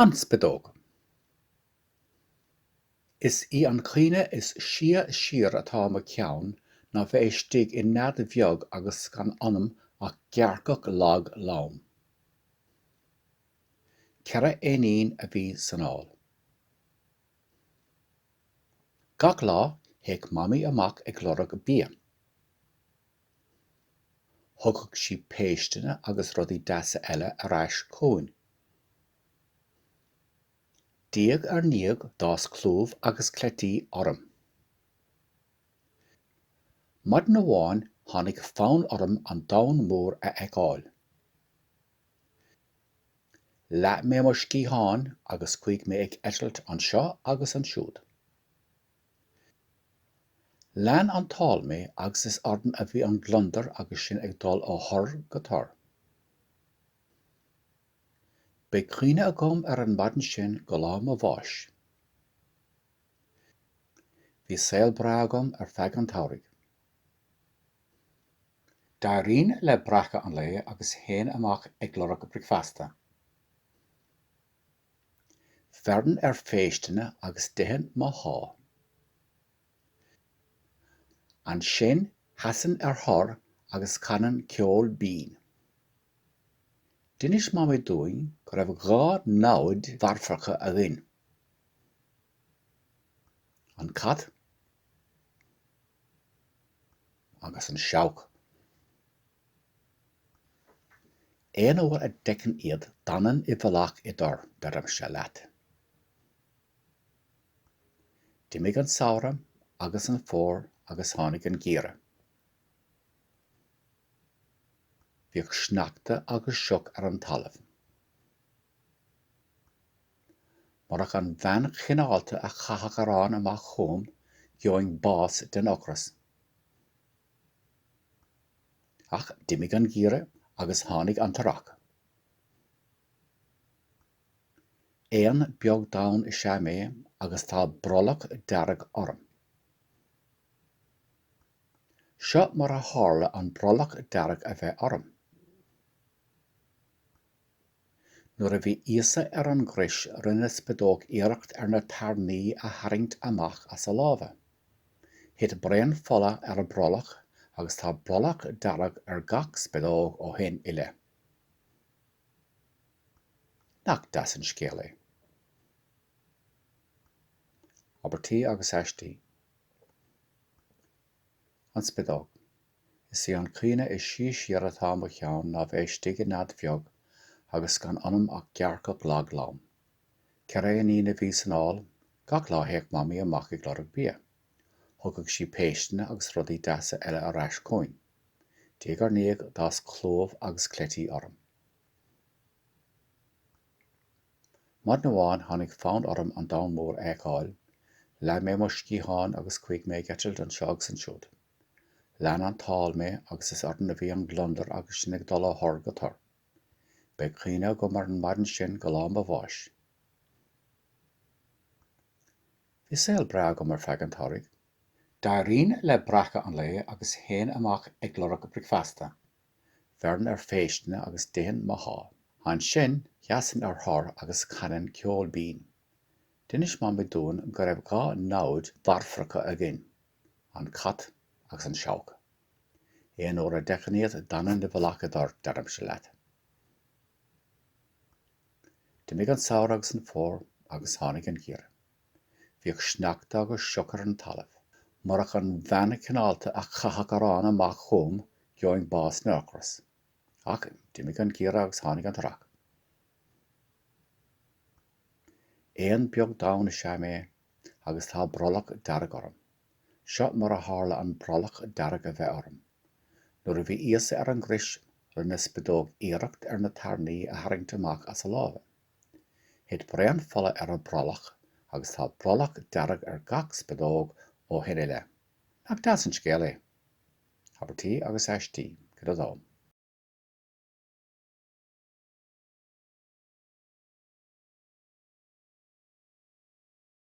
An Spideog. Is í an chuimhne is sia siar atá i mo cheann ná bheith istigh i nead bheag agus gan ionam ach gearrcach lag lom. Ceithre éinín a bhí san ál. Gach lá, théadh Mamaí amach ag lorg bia. Thugadh sí péisteanna agus rudaí deasa eile ar ais chugainn. Diaidh ar ndiaidh d'fhás clúmh agus cleití orm. Maidin amháin tháinig fonn orm an domhan mór a fheiceáil. Leath mé mo sciatháin agus chuaigh mé ag eitilt anseo agus ansiúd. Lean an t-ál mé agus is orm a bhí an gliondar agus sinn ag dul ó thor go tor. Beidh cuimhne agam ar an maidin sin go lá mo bháis. Bhí saol breá agam ar feadh an tsamhraidh. D'éirínn le breacadh an lae agus théinn amach ag lorg bricfeasta. D'fhairinn ar phéisteanna agus d'ithinn mo sháith. Ansin sheasainn ar thor agus chanainn ceol binn. D'inis Mamaí dúinn go raibh dhá namhaid mharfacha againn, an cat agus an seabhac. Aon uair a d'fheicinn iad d'fhanainn i bhfolach i dtor, deirimse leat. D'imigh an samhradh agus an fómhar agus tháinig an geimhreadh. Bhíodh sneachta agus sioc ar an talamh. Murach an bhean chineálta a chaitheadh arán amach chugam gheobhainn bás den ocras. Ach d'imigh an geimhreadh agus tháinig an t-earrach. Éan beag donn is ea mé agus tá brollach dearg orm. Seo mar a tharla an brollach dearg a bheith orm. Nuair a bhí Íosa ar an gcrois rinne spideog iarracht ar na tairní a tharraingt amach as a lámha. Thit braon fola ar a brollach agus tá brollach dearg ar gach spideog ó shin i leith. Nach deas an scéal é? Abairtí agus aistí. An Spideog. Is é an cuimhne is sia siar atá i mo cheann ná bheith istigh i nead bheag agus gan ionam ach gearrcach lag lom. Ceithre éinín a bhí san ál. Gach lá théadh Mamaí amach ag lorg bia. Thugadh sí péisteanna agus rudaí deasa eile ar ais chugainn. Diaidh ar ndiaidh d'fhás clúmh agus cleití orm. Maidin amháin tháinig fonn orm an domhan mór a fheiceáil. Leath mé mo sciatháin agus chuaigh mé ag eitilt anseo agus ansiúd. Lean an t-ál mé agus is orainn a bhí an gliondar agus sinn ag dul ó thor go tor. Beidh cuimhne agam ar an maidin sin go lá mo bháis. Bhí saol breá agam ar feadh an tsamhraidh. D'éirínn le breacadh an lae agus théinn amach ag lorg bricfeasta. Bheirinn ar phéisteanna agus d'ithinn mo sháith. Ansin, sheasainn ar thor agus chanainn ceol binn. D'inis Mamaí dúinn go raibh dhá namhaid mharfacha againn. An Cat agus an Seabhac. Aon uair a d'fheicinn iad d'fhanainn i bhfolach i dtor, deirimse leat. D'imigh an samhradh agus an fómhar agus tháinig an geimhreadh. Bhíodh sneachta agus sioc ar an talamh. Murach an bhean chineálta a chaitheadh arán amach chugam gheobhainn bás den ocras. Ach d'imigh an geimhreadh agus tháinig an t-earrach. Éan beag donn is ea mé agus tá brollach dearg orm. Seo mar a tharla an brollach dearg a bheith orm. Nuair a bhí Íosa ar an gcrois, rinne spideog iarracht ar na tairní a tharraingt amach as a lámha. Thit braon fola ar a brollach agus tá brollach dearg ar gach spideog ó shin i leith. Nach deas an scéal é? Abairtí agus Aistí, Cuid 2.